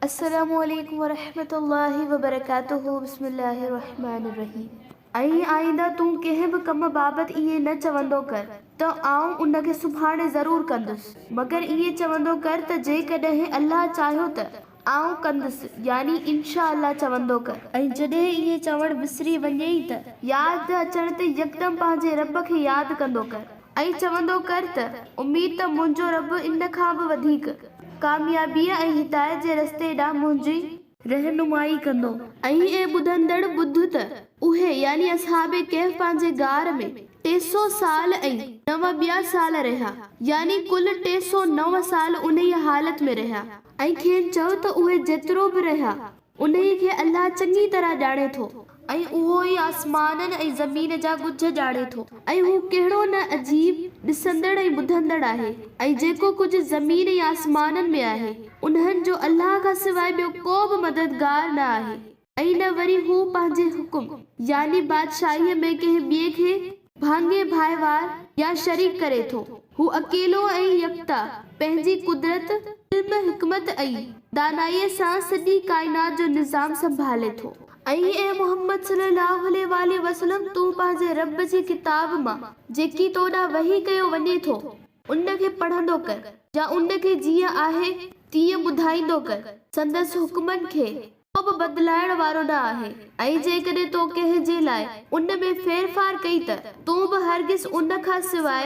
السلام عليڪم ورحمة الله وبرڪاته بسم الله الرحمٰن الرحيم ۽ آئنده تون ڪنهن به ڪم بابت ائين نه چوندو ڪر ته آئون ان کي سڀاڻي ضرور ڪندس مگر ائين چوندو ڪر ته جيڪڏهن الله چاهيو ته آئون ڪندس، يعني انشاء الله چوندو ڪر. ۽ جڏهن ائين چوڻ وسري وڃيئي ته. ياد نه اچڻ تي يڪدم پنهنجي رب کي ياد ڪندو ڪر ۽ چوندو ڪر ته، اميد ته منهنجو رب ان کان به وڌيڪ ڪاميابيء ۽ هدايت جي رستي ڏانهن منهنجي. رهنمائي ڪندو. ۽ اي ٻڌندڙ! ٻڌ ته اهي، يعني اصحاب ڪهف، پنهنجي غار ۾ ٽي سؤ سال ۽ نو ٻيا سال رهيا، يعني ڪل ٽي سؤ نو سال انهيء حالت ۾ رهيا. ۽ کين چئو ته اهي جيترو به رهيا. انهيء کي الله چڱي طرح ڄاڻي ٿو. ۽ اهو ئي آسمانن ۽ زمين جا ڳجهه ڄاڻي ٿو. ۽ هو ڪهڙو نه عجيب ڏسندڙ ۽ ٻڌندڙ آهي. ۽ جيڪو ڪجهه زمين ۽ آسمانن ۾ آهي، انهن جو الله کان سواء ٻيو ڪو به مددگار نه آهي. ۽ نه وري هو پنهنجي حڪم يعني بادشاهيء ۾ ڪنهن ٻئي کي ڀاڱي ڀائيوار يا شريڪ ڪري ٿو. هو اڪيلو ۽ يڪتا پنهنجي قدرت، علم، حڪمت ۽ دانائيء سان سڄي ڪائنات جو نظام سنڀالي ٿو. ۽ اي محمد صلّي اللّٰه عليه واٰله وسلّم! تون پنهنجي ربّ جي ڪتاب مان جيڪي تو ڏانهن وحي ڪيو وڃي ٿو، ان کي پڙهندو ڪر، يا ان کي جيئن آهي تيئن ٻڌائيندو ڪر، سندس حڪمن کي ڪو به بدلائڻ وارو نه آهي ۽ جيڪڏهن تو ڪنهن جي لاء ان ۾ ڦيرڦار ڪئي ته تون به هرگز ان کان سواء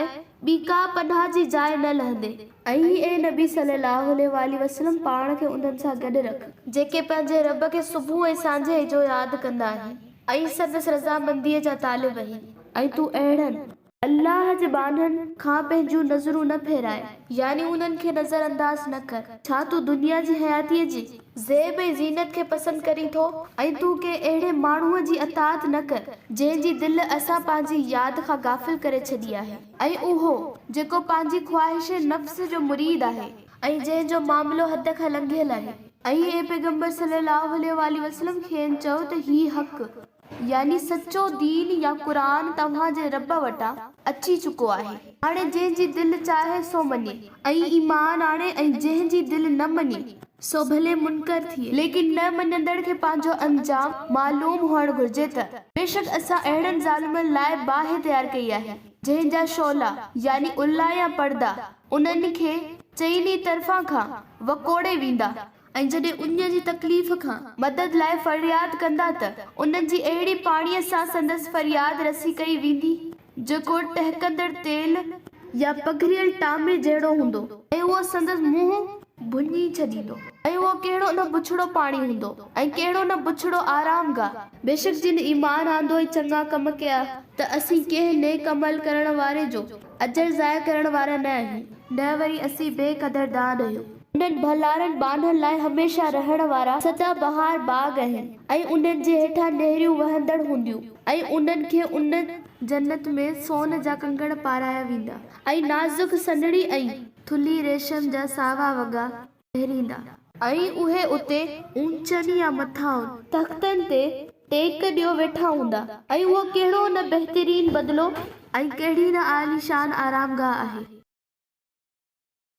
ٻي ڪا پناهه جي جاء نه لهندين. ۽ اي نبي صلّي اللّٰه عليه واٰله وسلّم پاڻ کي انهن سان گڏ رک، جيڪي پنهنجي ربّ کي صبح ۽ سانجهي جو ياد ڪندا آهن ۽ سندس رضامنديء جا طالب آهن ۽ تون اهڙن، الله جي ٻانهن کان پنهنجون نظرون نه ڦيرائي، يعني انهن کي نظر انداز نه ڪر. ڇا تون دنيا جي حياتيء جي زيب ۽ زينت کي پسند ڪرين ٿو؟ ۽ تون ڪنهن اهڙي ماڻهوء جي اطاعت نه ڪر، جنهن جي دل اسان پنهنجي ياد کان غافل ڪري ڇڏي آهي. ۽ اهو، جيڪو پنهنجي خواهش نفس جو مريد آهي ۽ جنهن جو معاملو حد کان لنگهيل آهي. ۽ اي پيغمبر صلّي اللّٰه عليه واٰله وسلّم کين چئو ته هي حق. يعني سچو دين يا قرآن توهان جي رب وٽان اچي چڪو آهي. هاڻي جنهن جي دل چاهي سو مڃي ۽ ايمان آڻي ۽ جنهن جي دل نه مڃي سو ڀلي منڪر ٿئي ليڪن نه مڃندڙ کي پنهنجو انجام معلوم هئڻ گهرجي ته. بيشڪ اسان اهڙن ظالمن لاء باهه تيار ڪئي آهي جنهن جا شعلا، يعني الا يا پردا، انهن کي چئني طرفان کان وڪوڙي ويندا. ۽ جڏهن انهن جي تڪليف کان مدد لاء فرياد ڪندا ته انهن جي اهڙي پاڻيء سان سندس فرياد رسي ڪئي ويندي جيڪو ٽهڪندڙ تيل يا پگهريل ٽامي جهڙو هوندو ۽ اهو سندس منهن ڀڃي ڇڏيندو ۽ اهو ڪهڙو نه بڇڙو پاڻي هوندو ۽ ڪهڙو نه بڇڙو آرام گاهه. بيشڪ جن ايمان آندو ۽ چڱا ڪم ڪيا ته اسين ڪنهن نيڪ عمل ڪرڻ واري جو اجر ضايع ڪرڻ وارا نه آهيون نه وري اسين بي قدر دان آهيون. انهن ڀلارن ٻانهن لاء هميشه رهڻ وارا سدا بهار باغ آهن ۽ انهن جي هيٺان نهريون وهندڙ هونديون ۽ انهن کي ان جنت ۾ سون جا ڪنگڻ پارايا ويندا ۽ نازڪ سنهڙي ۽ ٿلهي ريشم جا ساوا وڳا پهريندا. ۽ اهي اتي اونچن يا مٿانهن تختن تي ٽيڪ ڏيو ويٺا هوندا ۽ اهو ڪهڙو نه بهترين بدلو ۽ ڪهڙي نه عاليشان آرامگاهه آهي.